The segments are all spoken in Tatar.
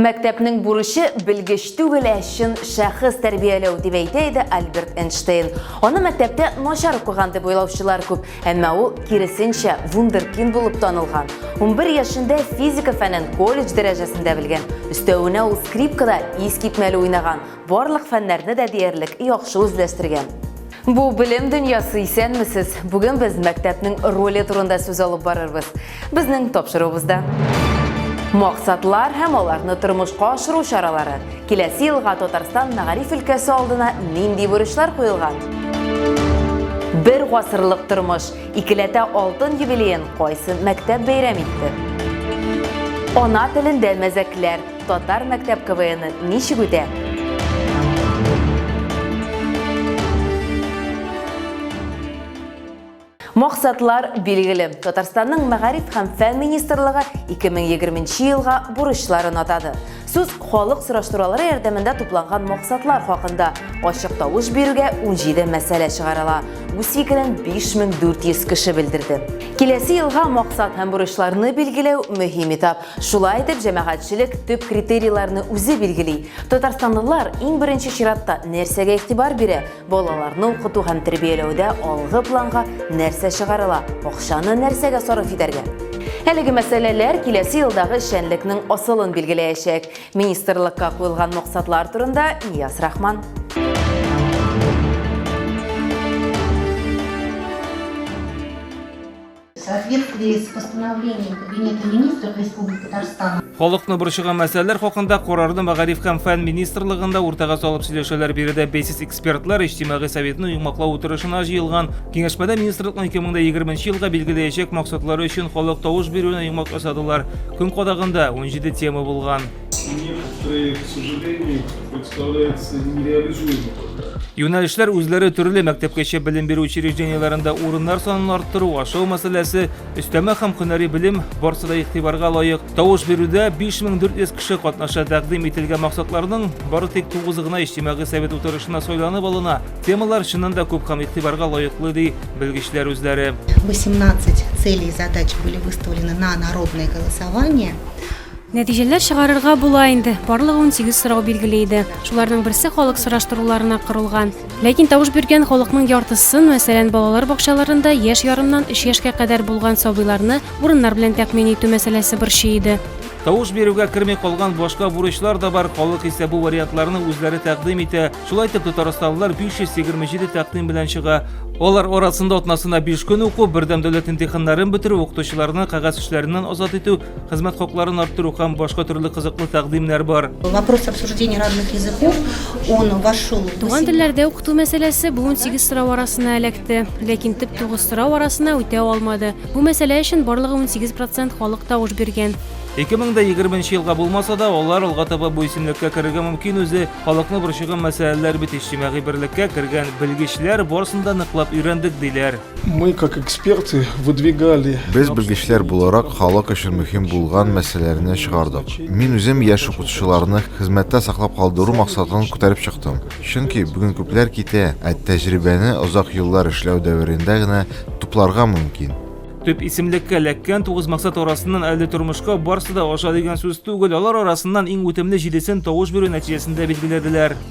Мәктәпнең бурычы белгеч түгел, ә чын шәхес тәрбияләү, дип әйтә иде Альберт Эйнштейн. Аны мәктәптә начар укыган дип уйлаучылар күп, әмма ул, киресенчә, вундеркинд булып танылган. Унбер яшендә физика фәнен колледж дәрәҗәсендә белгән. Өстәвенә ул скрипкада искитмәле уйнаган. Барлык фәннәрне дә диярлек яхшы үзләштергән. Бу белем дөньясы, исәнмесез! Бүген без мәктәпнең роле турында сүз алып барырбыз. Безнең тапшыруыбызда. Максатлар һәм аларны тормышка ашыру чаралары. Киләсе елга Татарстан мәгариф өлкәсе алдына нинди бурычлар куелган? Бер гасырлык тормыш, икеләтә алтын юбилеен кайсы мәктәп бәйрәм итте? Ана телендә мәзәкләр. Татар мәктәп КВНы ничек үтә? Максатлар билгеле. Татарстанның мәгариф һәм фән министрлыгы 2020 елга бурычларын атады. Сүз халык сораштырулары ярдәмендә тупланган максатлар хакында ачык тавыш бирүгә 17 мәсьәлә чыгарыла. Үз фикерен 5400 кеше белдерде. Киләсе елга максат һәм бурычларны билгеләү мөһим этап. Шулай итеп, җәмәгатьчелек төп критерийларны үзе билгели. Татарстанлылар иң беренче чиратта нәрсәгә игътибар бирә? Балаларны укыту һәм тәрбияләүдә алгы планга нәрсә чыгарыла? Акчаны нәрсәгә сарыф итәргә? Әлеге мәсьәләләр киләсе елдагы эшчәнлекнең асылын билгеләячәк. Министрлыкка куелган максатлар турында Нияз Рахман. Халыкны борчыган мәсьәләләр хакында карарны мәгариф һәм фән министрлыгында уртага салып сөйләшәләр. Биредә бәйсез экспертлар иҗтимагый советны йомгаклау утырышына җыелган. Киңәшмәдә министрлыкның 2020 елга билгеләячәк максатлары өчен халык тавыш бирүенә йомгак ясадылар. Көн кадагында 17 тема булган. Некоторые, к сожалению, представляются нереализуемыми. Юнәлешләр үзләре төрле мәктәпкәчә белем бирү учреждениеләрендә урыннар санын арттыру, ашау мәсьәләсе, өстәмә һәм һөнәри белем барсы да игътибарга лаек. Тавыш бирүдә 5400 кеше катнаша тәкъдим ителгән максатларның бары тик тугызы гына иҗтимагый совет утырышына сайланып алына. Темалар чыннан да күп һәм игътибарга лаеклы, ди белгечләр үзләре. 18 целей и задач были выставлены на народное голосование. Нәтиҗәләр чыгарырга була инде. Барлыгы унсигез сорау билгеле иде. Шуларның берсе халык сораштыруларына корылган. Ләкин тавыш биргән халыкның яртысын, мәсәлән, балалар бакчаларында яшь ярымнан өч яшькә кадәр булган сабыйларны урыннар белән тәэмин итү мәсьәләсе борчый иде. Тавыш бирүгә керми калган башка бурычлар да бар, халык исә бу вариантларны үзләре тәкъдим итә. Шулай итеп, татарстанлылар 527 тәкъдим белән чыга. Алар арасында атнасына биш көн уку, бердәм дәүләт имтиханнарын бетерү, укытучыларны кәгазь эшләреннән азат итү, хезмәт хакларын арттыру һәм башка төрле кызыклы тәкъдимнәр бар. Вопрос обсуждения разных языков, он вошел. Туган телләрдә укыту мәсьәләсе бу 18 сорау арасына эләкте, ләкин төп 9 сорау арасына үтә алмады. Бу мәсьәлә өчен барлыгы 18 процент халык тавыш биргән. 2020 елга булмаса да, алар алга таба бу исемлеккә керергә мөмкин үзе. Халыкны борчыган мәсьәләләр бит иҗтимагый берлеккә кергән белгечләр барысын да ныклап өйрәндек диләр. Мы, как эксперты, выдвигали... Без белгечләр буларак халык өчен мөһим булган мәсьәләләрне чыгардык. Мин үзем яшь укытучыларны хезмәттә саклап калдыру максатын күтәреп чыктым. Чөнки бүген күпләр китә, ә тәҗрибәне озак еллар эшләү дәверендә генә тупларга мөмкин. Төп исемлеккә эләккән тугыз максат арасыннан әле тормышка барсы да аша дигән сүз түгел, алар арасыннан иң үтемле җидесен тавыш бирү нәтиҗәсендә билгеләделәр.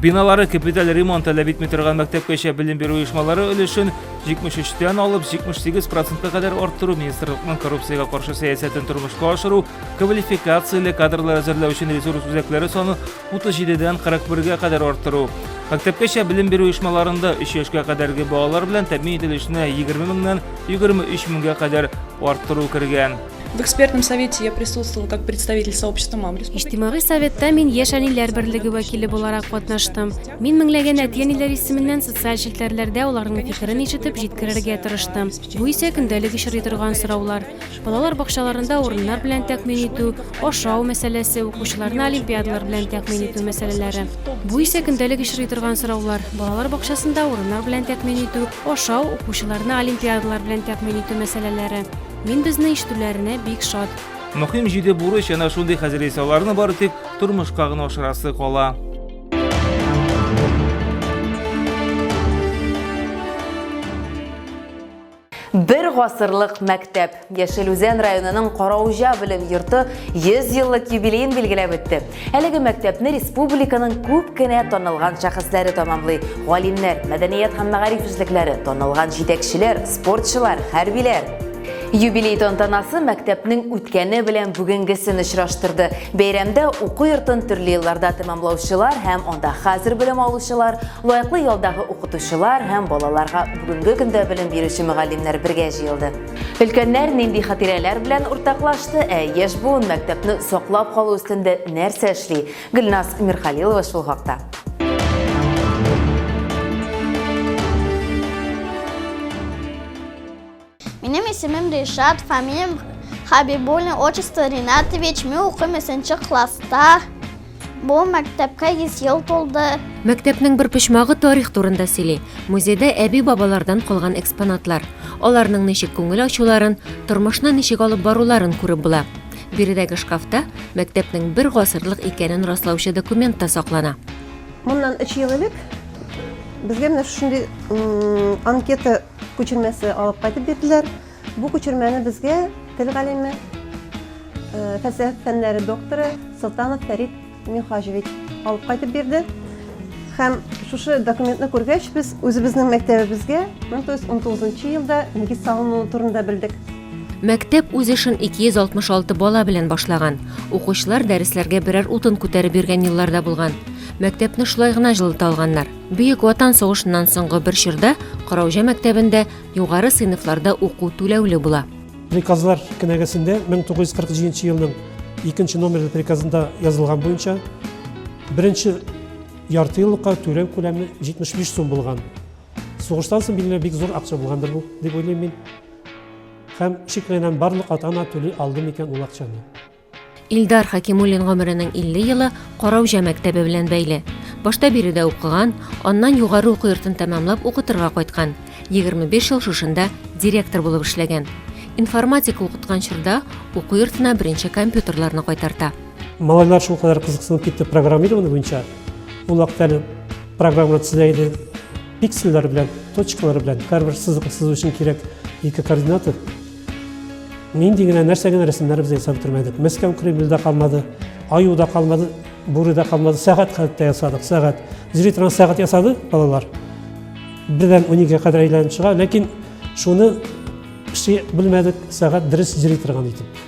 Биналары капиталь ремонт таләп итми торган мәктәпкәчә белем бирү оешмалары өлешен 73 тән алып 78 процентка кадәр арттыру министрлыкның коррупциягә каршы сәясәтен тормышка ашыру, квалификацияле кадрлар әзерләү өчен ресурс үзәкләре саны 37 дән 41 га кадәр арттыру, мәктәпкәчә белем бирү оешмаларында 3 яшькә кадәрге балалар белән тәэмин ителешне 20 меңнән 23 меңгә кадәр арттыру кергән. В экспертном совете я присутствовала как представитель сообщества мам Иҗтимагый советта мин яшь әниләр берлеге вәкиле буларак катнаштым. Мин меңләгән әти-әниләр исеменнән социаль челтәрләрдә аларның фикерен ишетеп җиткерергә тырыштым. Бу исә көндәлек очрый торган сораулар. Балалар бакчаларында урыннар белән тәкъмин итү, ашау мәсьәләсе, укучыларны олимпиадалар белән тәкъмин итү мәсьәләләре. Бу исә көндәлек очрый торган сораулар. Балалар бакчасында урыннар белән тәкъмин итү, ашау, укучыларны олимпиадалар белән тәкъмин итү мәсьәләләре. Мин безне ишетүләренә бик шат. Мөхим җиде бурыч әнә шундый хәзер исә аларны бары тик тормышка гына ашырасы кала. Бер гасырлык мәктәп. Яшел Үзән районының Караужа белем йорты 100 еллык юбилеен билгеләп үтте. Әлеге мәктәпне республиканың күп кенә танылган шәхесләре тәмамлый. Галимнәр, мәдәният һәм мәгариф эшлекләре, танылган җитәкчеләр, спортчылар, хәрбиләр. Юбилей тантанасы мәктәпнең үткәне белән бүгенгесен очраштырды. Бәйрәмдә уку йортын төрле елларда тәмамлаучылар һәм анда хәзер белем алучылар, лаеклы ялдагы укытучылар һәм балаларга бүгенге көндә белем бирүче мөгаллимнәр бергә җыелды. Өлкәннәр нинди хатирәләр белән уртаклашты, ә яшь буын мәктәпне саклап калу өстендә нәрсә эшли? Гөлназ Мирхалилова шул хакта. Минем исемем Ришат, фамилиям Хабибуллин, отчество Ринатович. Мин укыйм 3 класста. Бу мәктәпкә 100 ел тулды. Мәктәпнең бер почмагы тарих турында сөйли. Музейда әби-бабалардан калган экспонатлар. Аларның ничек күңел ачуларын, тормышны ничек алып баруларын күреп була. Биредәге шкафта мәктәпнең бер гасырлык икәнен раслаучы документ та саклана. Моннан 3 ел элек безгә менә шушындый анкета күчермәсе алып кайтып бирделәр. Бу күчермәне безгә тел галиме, фәлсәфә фәннәре докторы Солтанов Фәрит Михаҗевич алып кайтып бирде. Һәм шушы документны күргәч, без үзебезнең мәктәбебезгә 1919 елда нигез салынуы турында белдек. Мәктәп үз эшен 266 бала белән башлаган. Укучылар дәресләргә берәр утын күтәреп йөргән елларда булган. Мәктәпне шулай гына җылыта алганнар. Бөек Ватан сугышыннан соңгы бер чорда Караужа мәктәбендә Югары сыйныфларда уку түләүле була. Приказлар кенәгәсендә 1947 елның икенче номерлы приказында язылган буенча беренче ярты еллыкка түләү күләме 75 сум булган. Сугыштан соң билгеле бик зур акча булгандыр бу, дип уйлыйм мин. Һәм шикләнәм, барлык ата-ана түли алды микән ул акчаны. Илдар Хакимуллин гомеренең 50 елы Караүҗә мәктәбе белән бәйле. Башта биредә укыган, аннан югары уку йортын тәмамлап укытырга кайткан. 25 ел шушында директор булып эшләгән. Информатика укыткан чорда уку йортына беренче компьютерларны кайтарта. Малайлар шул кадәр кызыксынып китте программирование буенча. Ул вакытта әле программалар төзелә иде пиксельләр белән, точкалар белән, һәрбер сызык сызу өчен кирәк ике координатор. Нинди генә, нәрсә генә рәсемнәр без ясап бетермәдек. Мәскәү Кремль дә калмады, Аю да калмады, Бүре дә калмады. Сәгать хәтта ясадык, сәгать. Зритран сәгать ясады балалар. Бердән 12-гә кадәр әйләнеп чыга, ләкин шуны эшли белмәдек, сәгать дөрес зритраган итеп.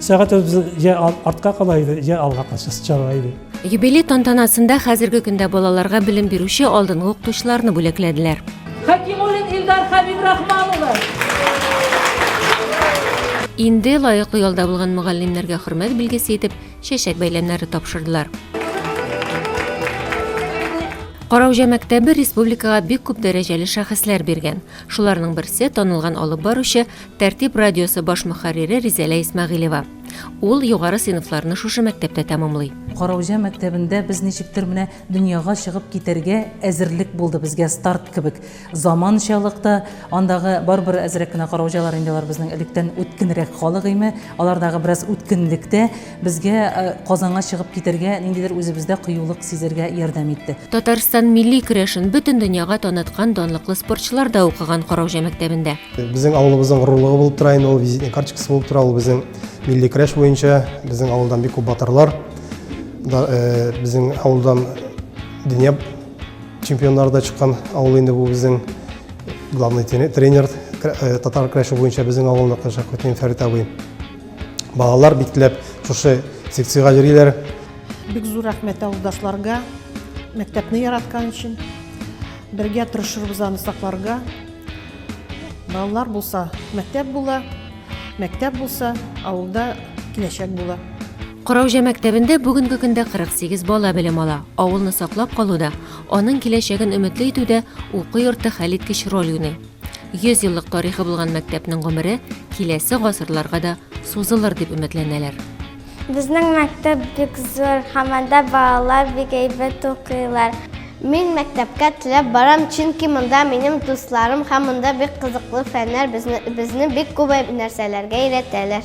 Сәгать безнең я артка кала иде, я алга качасы чара иде. Юбилей тантанасында хәзерге көндә балаларга белем бирүче алдынгы укытучыларны бүләкләделәр. Хәкимуллин Илдар Хәбибрахман улы. Инде лаеклы ялда булган мөгаллимнәргә хөрмәт билгесе итеп чәчәк бәйләмнәре тапшырдылар. Караужа мәктәбе республикага бик күп дәрәҗәле шәхесләр биргән. Шуларның берсе танылган алып баручы Тәртип радиосы баш мөхәррире Ризәлә Исмәгыйлева. Ул югары сыйныфларны шушы мәктәптә тәмамлый. Караүҗә мәктәбендә без ничектер менә дөньяга чыгып китәргә әзерлек булды безгә старт кебек. Заманчалык та, андагы барыбер әзрәк кенә караүҗәләр инде алар безнең электән үткенрәк халык име, алардагы бераз үткенлек тә безгә Казанга чыгып китәргә, ниндидер үзебездә кыюлык сизәргә ярдәм итте. Татарстан милли көрәшен бөтен дөньяга таныткан данлыклы спортчылар да укыган Караүҗә мәктәбендә. Безнең авылыбызның горурлыгы булып тора инде ул визитный карточкасы булып тора. Ул безнең милли көрәш буенча безнең авылдан бик күп батырлар да э, безнең авылдан дөнья чемпионнары да чыккан авыл инде бу безнең главный тренер э, татар көрәше буенча безнең авылныкы Шәкүтин Фәрит абый. Балалар бик теләп шушы секциягә йөриләр. Бик зур рәхмәт авылдашларга, мәктәпне яраткан өчен. Бергә тырышырбыз аны сакларга. Балалар булса, мәктәп була, мәктәп булса, авылда киләчәк була. Караужа мәктәбендә бүгенге көндә 48 бала белем ала. Авылны саклап калуда, аның киләчәген өметле итүдә уку йорты хәлиткеч роль уйный. 100 еллык тарихы булган мәктәпнең гомере киләсе гасырларга да Сузылыр дип өметләнәләр. Безнең мәктәп бик зур һәм анда балалар бик әйбәт укыйлар. Мин мәктәпкә теләп барам, чөнки монда минем дусларым һәм монда бик кызыклы фәннәр, безне бик күп нәрсәләргә өйрәтәләр.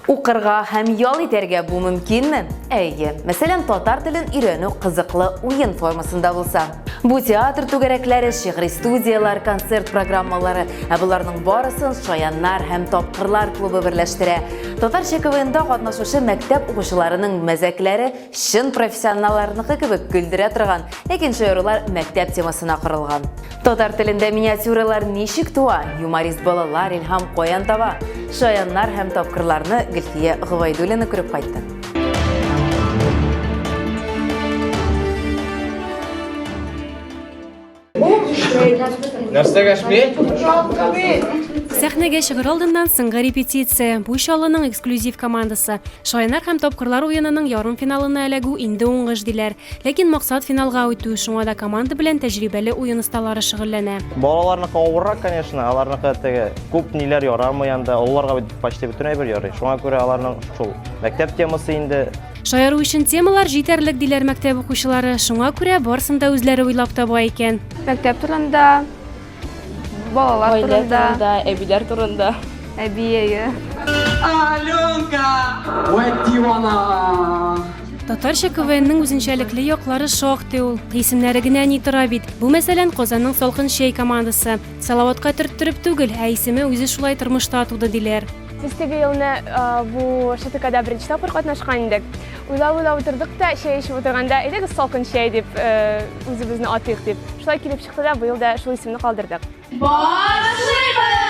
Укырга һәм ял итәргә бу мөмкинме? Әйе. Мәсәлән, татар телен өйрәнү кызыклы уен формасында булса. Бу театр түгәрәкләре, шигъри студияләр, концерт программалары, ә боларның барысын Шаяннар һәм тапкырлар клубы берләштерә. Татарча КВНда катнашучы мәктәп укучыларының мәзәкләре чын профессионалларныкы кебек көлдерә торган, ләкин шаярулар мәктәп темасына корылган. Татар телендә миниатюралар ничек туа? Юморист балалар илһам каян таба? Шаяннар һәм тапкырларны Гөлфия Гобайдуллина күреп кайтты. Нәрсәгә шпи? Сәхнәгә чыгыр алдыннан сыңгы репетиция. Бу чалының эксклюзив командасы. Шаянар һәм тапкырлар уенының ярым финалына эләгү инде уңыш диләр. Ләкин максат финалга үтү, шуңа да команда белән тәҗрибәле уен осталары шөгыльләнә. Балаларныкы авыррак, конечно, аларныкы теге күп ниләр ярамый анда, олыларга бит почти бөтен әйбер ярый, шуңа күрә аларның шул мәктәп темасы инде. Шаяру өчен темалар җитәрлек, диләр мәктәп укучылары, шуңа күрә барсын да үзләре уйлап таба икән. Мәктәп турында. Балалар Гаилә турында. турында, әбиләр турында. Әби әйе. Аленка! Вә дивана! Татарча КВНның үзенчәлекле яклары шактый ул. Исемнәре генә ни тора бит. Бу мәсәлән Казанның Салкын чәй командасы. Салаватка төрттереп түгел, ә исеме үзе шулай тормышта туды диләр. Без теге елны а, бу ШТКда беренче тапкыр катнашкан идек. Уйлап-уйлап утырдык та, чәй эчеп утырганда, әйдәгез салкын чәй дип, э, үзебезне атыйк дип. Шулай килеп Кысада быел да шул исемне калдырдык. Башлыйбыз!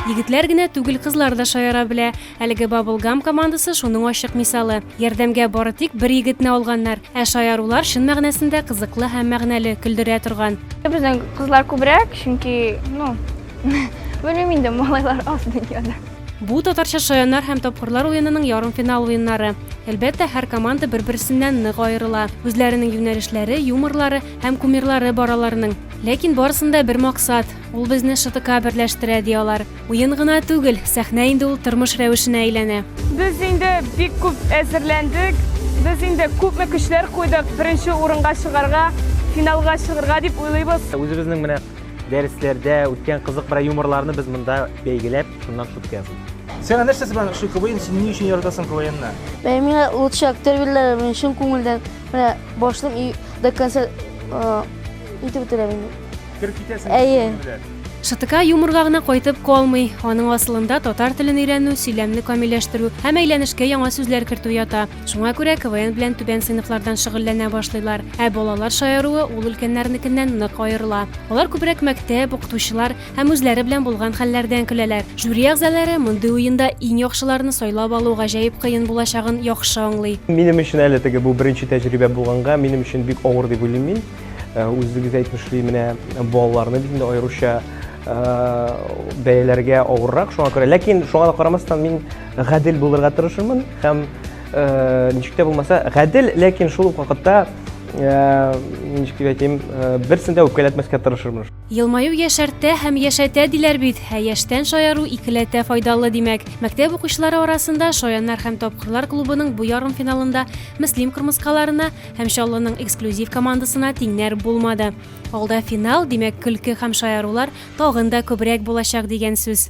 Егетләр генә түгел, кызлар да шаяра белә. Әлеге Bubble Gum командасы шуның ачык мисалы. Ярдәмгә бары тик бер егетне алганнар, ә шаярулар чын мәгънәсендә кызыклы һәм мәгънәле, көлдерә торган. Безнең кызлар күбрәк, чөнки, ну, белмим инде, малайлар аз дөньяда. Бу татарча шаяннар һәм тапкырлар уенының ярымфинал уеннары. Әлбәттә, һәр команда бер-берсеннән нык аерыла. Үзләренең юнәлешләре, юморлары һәм кумирлары бар аларның. Ләкин барысында бер максат, ул безне ШТК берләштерә, ди алар. Уен гына түгел, сәхнә инде ул тормыш рәвешенә әйләнә. Без инде бик күп әзерләндек. Без инде күпме көчләр куйдык, беренче урынга чыгарга, финалга чыгарга дип уйлыйбыз. Үзебезнең менә Дәресләрдә үткән кызык бер юморларны без монда бәйгеләп, шуннан шутка ясыйбыз. Сиңа нәрсәсе белән ошый КВН? Син ни өчен яратасың КВНны? Ә миңа лучший актер бирделәр, мин чын күңелдән менә башлыйм и до конца э, итеп бетерәм инде. Кереп китәсең. Әйе. күңел белән. Шытыка юморга гына кайтып калмый. Аның асылында татар телен өйрәнү, сөйләмне камилләштерү һәм әйләнешкә яңа сүзләр кертү ята. Шуңа күрә КВН белән түбән сыйныфлардан шөгыльләнә башлыйлар. Ә балалар шаяруы ул өлкәннәрнекеннән нык аерыла. Алар күбрәк мәктәп, укытучылар һәм үзләре белән булган хәлләрдән көләләр. Жюри әгъзалары мондый уенда иң яхшыларны сайлап алу гаҗәеп кыен булачагын яхшы аңлый. Минем өчен әле теге бу беренче тәҗрибә булганга, минем өчен бик авыр дип уйлыйм мин. Э, үзегез әйтмешли, менә балаларны бит инде аеруча э, бәяләргә авыррак, шуңа күрә. Ләкин шуңа да карамастан мин Гадел булырга тырышырмын һәм э, ничек тә булмаса гадел, ләкин шул ук вакытта Э, ничек дип әйтим э, берсен дә үпкәләтмәскә тырышырмын елмаю яшәртә һәм яшәтә диләр бит ә яшьтән шаяру икеләтә файдалы димәк мәктәп укучылары арасында шаяннар һәм тапкырлар клубының бу ярым финалында мөслим кырмыскаларына һәм чаллының эксклюзив командасына тиңнәр булмады алда финал димәк көлке һәм шаярулар тагын да күбрәк булачак дигән сүз